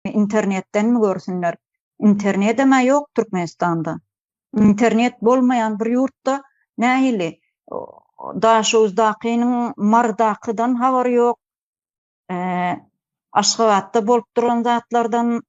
internetdenmi görsünler internedem-ä ýok türkmenistanda internet bolmaýan bir ýurtda nähili daşoguzdakynyň marydakydan habary ýok aşgabatda bolup duran zatlardan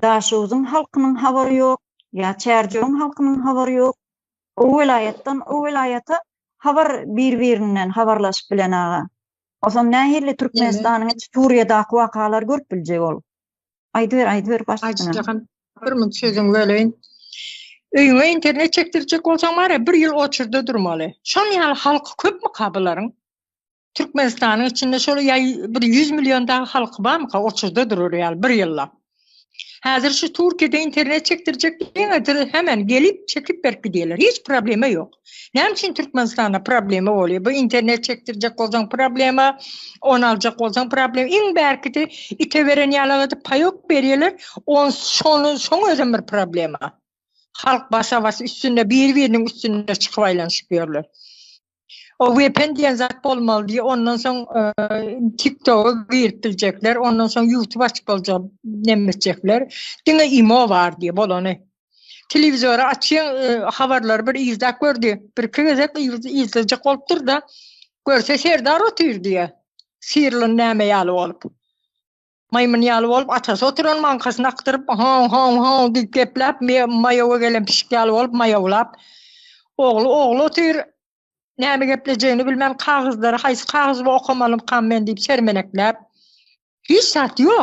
daşoguzyň halkynyň habary ýok ýa çärjewiň halkynyň habary ýok o welaýatdan o welaýata habar bir birinden habarlaşyp bilen aga Oson nähili Türkmenistanyň içi Suriýadaky wakalary görüp biljek ol. Aýdyber aýdyber başda. Bir mün sözün böleýin. Öýüňe internet çekdirjek bolsaň bar ya bir ýyl oçurda durmaly. Şon ýaly halky köpmi ka bularyň? Türkmenistanyň içinde şol ýa bir 100 million dagy halky barmy ka oçurda durar ýaly bir ýyllap. Häzir şu Türkiýede internet çekdirjek diýene diri hemen gelip çekip berip gidýärler. Hiç problema ýok. Näme üçin Türkmenistanda problema bolýar? Bu internet çekdirjek bolsaň problema, on aljak bolsaň problem. Iň bärkidi ite beren ýalaga diýip paýok berýärler. On şony şoň özem bir problema. Halk basa-bas üstünde bir-biriniň üstünde çykyp aýlanyşyp ýörler. O VPN diýen zat bolmaly diýip, ondan soň e, TikTok-a girip biljekler, ondan soň YouTube açyp boljak, näme etjekler. Diňe imo bar diýip bolany. Telewizory açýan e, habarlary bir izläp gördi. Bir iki gezek izlejek bolupdyr da, görse Serdar otyr diýýär. Sirlin näme ýaly bolup. Maýmyn ýaly bolup, atasy oturan maňkasyny akdyryp, haw, haw, haw diýip gepläp, maýawa gelen pişik ýaly bolup maýawlap, ogly, ogly otyr, näme geplejegini bilmän, kagyzlary haýsy kagyzy okamalykam men diýip sermenekläp, hiç zat ýok.